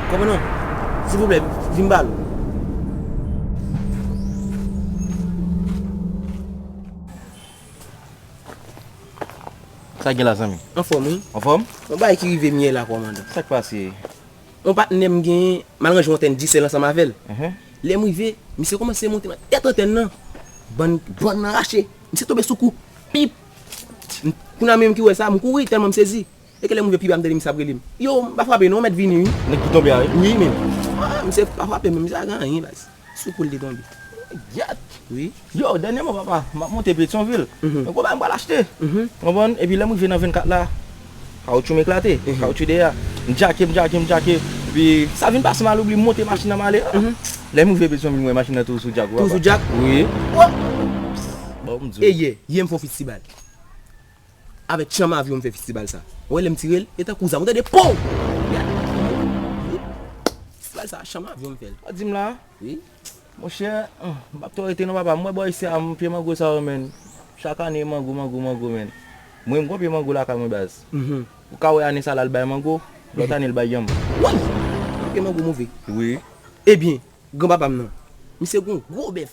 Komandan, silvouplè, vin ba nou. Sa gen la zanmi? Anfòm wi. Anfòm? Yon bagay ki rive m yè la kòmandan. Sa k pase? Yon patnè m genyen, m al ranje yon antèn Digicel ansanm avè l. Lè m rive, misye kòmanse monte nan tèt antèn lan. Bann nan rache. Misye tonbe sou kou. Pip! Kounye a mwen menm ki wè sa, m kouri tèlman m sezi. E ke lèm rive piba m tande misye ap relem. Yow m pa frape non mèt vini wi. Nèg ki tonbe a wi. Wi men ah misye pa frape menm misye pa gen anyen baz. Sou kou l te tonbe. Gyèt! Wi. Yow dènyèman papa m ap monte Petyonvil yon gwo bagay m pral achte ou konprann epi lèm rive nan 24 la kawotchou m eklate kawotchou dèyè a m djake m djake m djake epi sa vin pase m aloubli m monte machin nan m ale lèm rive Petyonvil m wè machin nan toujou sou djak ou papa. Toujou djak? Wi. Bon m di w. Eyè! Yè m fon pit ti bal. Avèk tchanm avyon m fè fistibal sa. Ou wè lè m tire l, e tankou zam. Ou tande pow! Li ale nan tchanm avyon m. Wi. Fistibal sa, tchanm avyon m fè l. Ou di m la? Wi. Monchè, m pap twò rete non papa. M wè bò isit la, m pye mango sa yo menn. Chak ane mango, mango, mango menn. Mwen m gon pye mango lakay mwen baz. Ou ka wè ane sa la l bay mango, lòt ane l bay yanm. Woy! Pye mango move. Wi. Ebyen, granpapa m nan, misye gon gwo bèf.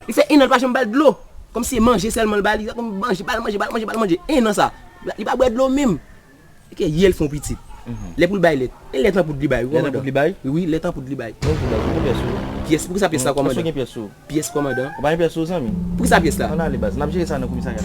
Li fè 1 an li pa janm bal dlo Kòmsi se manje sèlman li ba li Bal manje bal manje bal manje bal manje 1 an sa Li pa bwè dlo menm Ok yè li fè yon pitit Lè pou l bay lèt E lèt an poud li bay wi kòmandan Wi lèt an poud li bay Pyès poukisa pyès la kòmandan Pyès kòmandan Poukisa pyès la An ale baz nap jere sa nan komisarya